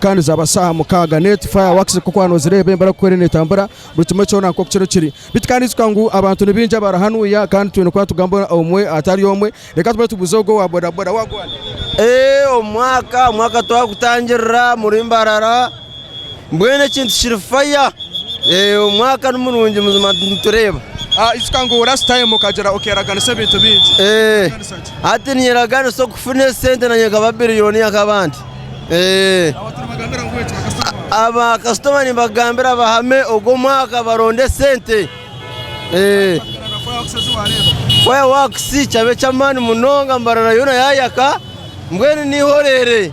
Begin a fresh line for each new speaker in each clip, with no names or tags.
Kandi zaaba shaaha mukaaga net fire works nk'oku waaba noozireeba embeera nk'oku eriyo neetambura, buri kimwe kyona nk'oku kiriyo kiri. Beitu kandi ijuka ngu abantu ni baingi abari hanu ya kandi twine kuba nitugamba omwe atari omwe. Reka tube nitubuuza ogwo owa bodaboda. Wagwan. Eeh omwaka omwaka
twagutangirira muri Mbarara mbwenu ekintu kiri fire. Eeh omwaka ni murungi buzima nitureeba. Ijuka ngu
last time okagira okeeraganisa ebintu bingi. Eeh Okeeraganisa
ki? Hati ninyeraganisa okufuna esente naanye nkaba biriyoniya nk'abandi. Abakasitoma nibagambira bahame ogu omwaka baronde sente. Fire wax kikaba eky'amaani munonga mbarara yoona yayaka mbwenu ni
eihorere.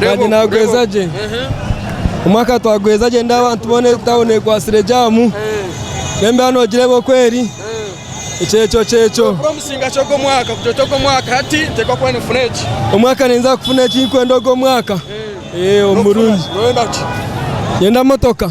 Kandi nagweza
gye omwaka twagweza gye ndi abantu bona etawuni ekwatsire jamu nemba nogire bokweri ekyekyo kyekyo
omwaka ninza kufuna
ekinkwenda ogwo mwaka omurungi
yenda motoka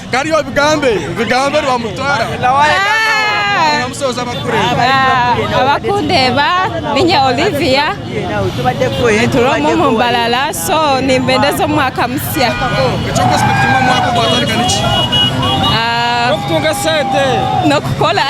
Kari obigambe bigambe rwamutwara abakundeeba
ninye Olivia nituura omu omu mbarara so nimbendeza omwaka musya
ah, n'okukora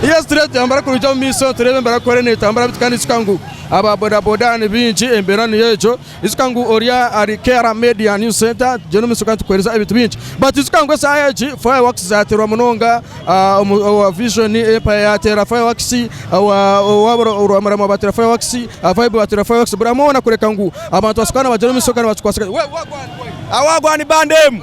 yes turebe tuyambara kuruja omu maiso turebe embera kukora netambura bitu kandi nitushusha ngu aba bodaboda ni baingi embeera niyo egyo Ijuka ngu ori ahari K'Era Media News Centre tugyenda omu maisho kandi tukuheereza ebintu bingi. But ijuka ngu eshaaha egi fireworks zaateerwa munonga ah, omu- owa Vision Empire yaateera fireworks, owa- owa Bura- Rwamurama baateera fireworks, ah, Vibe baateera fireworks, buri hamwe hoona kureka ngu abantu basokaane bagyere omu maisho kandi bakikwatse gye. We- Wagwan Boy!
Awagwani band emu.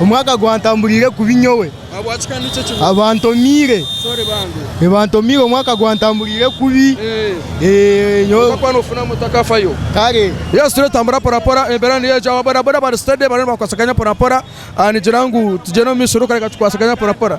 Omwaka
gwantambuliire
kubi
nyowe. Ahabwaki kandi nikyo kibuuzo?
Abantomiire. Sorry bambi. Eh, bantomiire omwaka gwantambuliire kubi. Eh. Eh,
nyowe. Kwonka kuba noofuna moto akafayo. Kare. Yes,
tureetambura
porapora, embeera niyo egyo. Aba bodaboda bari steady, bariyo nibakwasaganya porapora. Nigira ngu tugyende omu maisho ruka reka tukwasaganye porapora.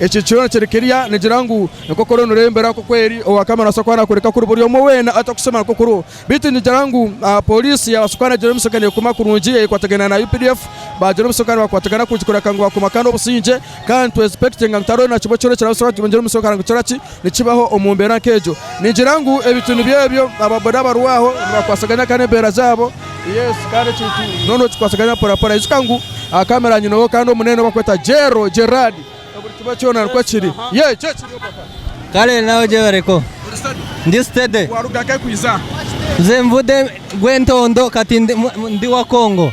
Eki kyo nikyoreka erya nigira ngu, Enkoko ori nirembera nk'oku eri ow'akama naabaasa kuba naakworeka kuri buri omwe weena atakushemera nk'oku ori. Beitu nigira ngu pooriisi yaabaasa kuba naagira omu sya neekuma kurungi eyeekwatagane na updf, baagira omu sya kandi bakwatagana kurungi kureka ngu baakuma kandi obusingye kandi nitwesupekitinga ngu tihariho na kimwe kyona ekirabaasa kuba nikigira omu sya kugira ngu kikora ki, Nikibaho omu mbeera nk'egyo? Ningira ngu ebintu nibyo ebyo. Ababoda abarwaho nibakwasaganya kandi embeera zaabo. Yes, kandi ekintu nooba nookikwasaganya mporampora. Ijuka ngu aha kamera nyineho kandi omunene ou barikweta Gero, Gerald. Buri kimwe kyona nikwo kiri. Yee, nikyo kiri papa. Kare naawe
gyebareko. Ori steady? Ndi steady. Waaruga nk'ahi kwija
aha? Nze mvude
Gwentondo kati ndi wa Congo.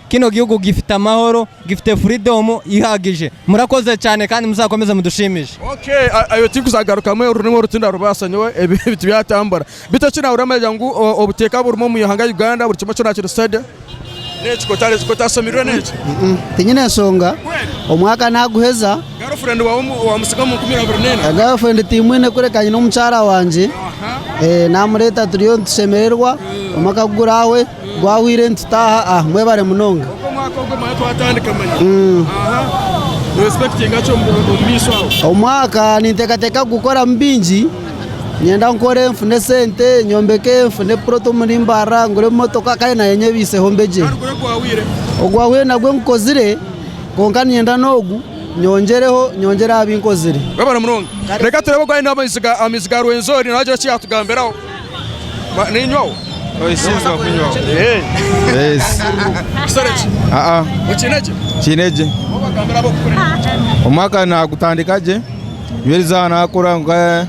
kino gihugu gifite amahoro, gifite freedom ihagije. Murakoze cyane kandi muzakomeze mudushimishe. Okay ebyo
tinkuzagarukamu orurimi oru tindarubaasa nyowe ebi tibyatambura beitu eki naahurira manya ngu obuteeka burimu omu ihanga Uganda buri kimwe kyona kiri steady. N'ekyo ku otaashomirwe n'ekyo? Tinyine nshonga
omwaka naaguheza. Girlfriend waawe
waamutsiga omu nkumi abiri neina? Girlfriend tiimwine
kureka nyine omukyara wangye naamureeta turiyo nitushemererwa omwaka ku gurahwe. Gwahwire nitutaaha aha. Mwebare munonga. Ogu omwaka ogwe manya
twatandika manya aha no expectinga ki omu maisho aho? Omwaka
ninteekateeka kugukoramu bingi. Niinyenda nkore nfune esente, nyombeke, nfune puroti omuri Mbarara, ngure emotoka kandi naanye nyebaiseho mbegye. Kandi guri ogwahwire? Ogwahwire nagwo ngukozire kwonka niinyenda n'ogu nyongyereho, nyongyere aha bi nkozire. Mwebare munonga.
Reka tureebe ogu aine amaizi ga Rwenzori nagira eki yaatugambiraho.
Omwaka nagutandika gye nibweriza nakora nka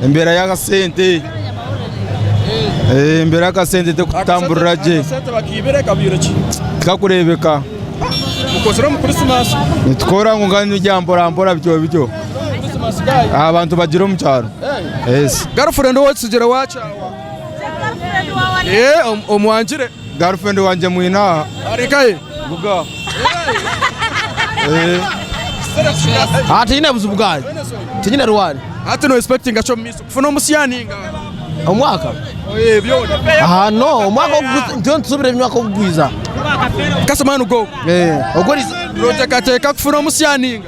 embera y'akasente embera y'akasente terikutamburira gye
tikakureebeka nitukora nka
ebya mporampora bityo bityo. aha bantu bagira omu kyaro Yes. Girlfriend ou otsigire
waakyawa? Eh, om- omwangire. girlfriend wangye
mwine aha Ari nkaye.
buga
Eh, Ah, tinyine buzibu bwayo tinyine rwari Hati no expectinga
ki omu maiso? Kufuna omusiani nga. omwaka
Oye, byona.
aha no
omwaka w'okugwiza- ntiyo ntusubire omwaka w'okugwiza Kasema
no go. Eh, ogwo riza
Noteekateeka
kufuna omusiani nga.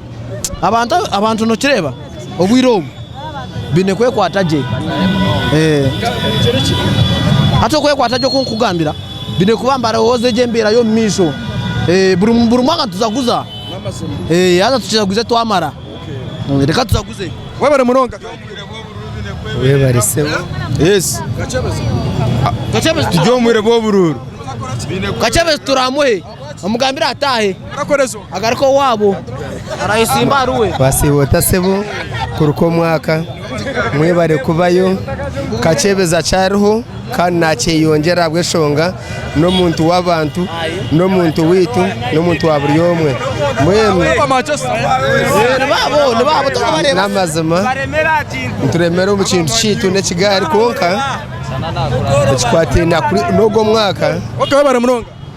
Abantu nokireeba obwire obu baine kwekwata gye hati okwekwata gye okunkugambira baine kuba nibarowooza egyo embeera yomumaisho buri mwaka nitujaguza haza tujaguze twamara reka tujaguze. Webare munonga.
Webare sebo. Yes.
Kachebezi. Turi omubwire
bwoburuuru. Kachebezi
turi amuhe. omugambire ataahe agaruke
owaabo
arayesimba ahari we. Basiiba ota sebo
kuruka omwaka mwebare kubayo kakyebeza akyariho kandi nakyeyongyera ahabweshonga nomuntu wabantu nomuntu waitu nomuntu wa buri omwe mbwenu namazima nituremera omu kintu kyaitu nekigaari kwonka ekikwataine nogo omwaka.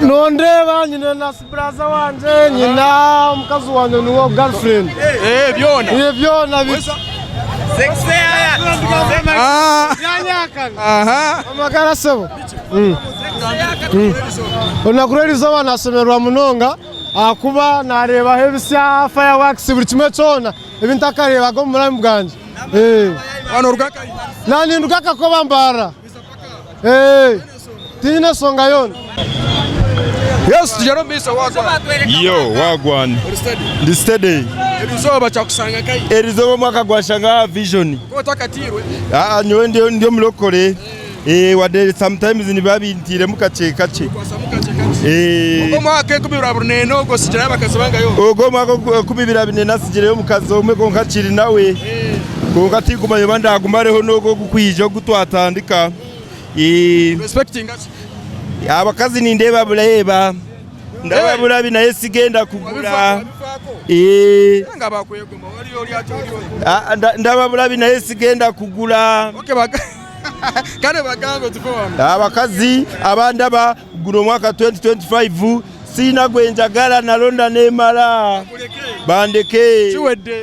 Nondeeba nyine na siburaza wangye nyine omukazi wangye niwe girlfriend eh, byona eh, byona bisa byanyakana ah. amagara sebo hmm. hmm. olunaku lw'erizooba nasemererwa munonga ahakuba nareebaho ebisya fireworks buri kimwe kyona ebi ntakareebaga omu bulamu bwangye eh.
naninduka
akakoba mbaara Eeeh tiine nsonga yoona.
Yesu tugere omu maiso wagwan. Yo wagwan
ndi steady. Erizooba kyakusanga
nkahi? Erizooba omwaka gwanshanga
aha vision. Konka otakatairwe?
Aa nyowe ndi
ndi omurokore eh wade sometimes nibiba bintiiremu kakye kakye. Kwasamu kakye kakye.
Eeh. Ogu omwaka enkumi ibiri abiri neena ogu osigirayo abakazi bangahi ogu? Ogu omwaka ogu enkumi
ibiri abiri neena nsigireyo omukazi omwe konka akiri nawe. Konka tinkumanya oba ndagumareho nogu ogu. Kwija ogu twatandika
abakazi
nindeeba bureeba ndaba burabi naye sigenda kugura
ndaba
burabi naye sigenda kugura
abakazi
abandaba guno omwaka 2025 siina gwenjagara naronda nemara bandeke kiwedde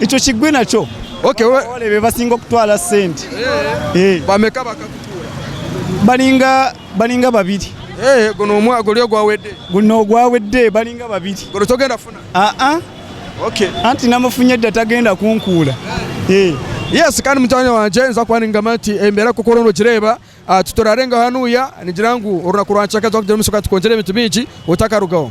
Ekyo kigwi nakyo okay we waba orebire
basinga
okutwara sente eh bameka
abakakutuura baringa
baringa babiri eh ogwo nomwe
guri ogwa wede guri nogwa wede
baringa babiri guri togenda funa
ah ah okay anti namufunye
da tagenda kunkuura eh
yes kandi mujwani wangye nza kuba ningamba nti embera nkoku oriyo nogireba ah titurarengaho hanuya ningira ngu orunaku rwa kicweka tuza kugira omurisho kandi tukongere ebintu bingi otakarugaho.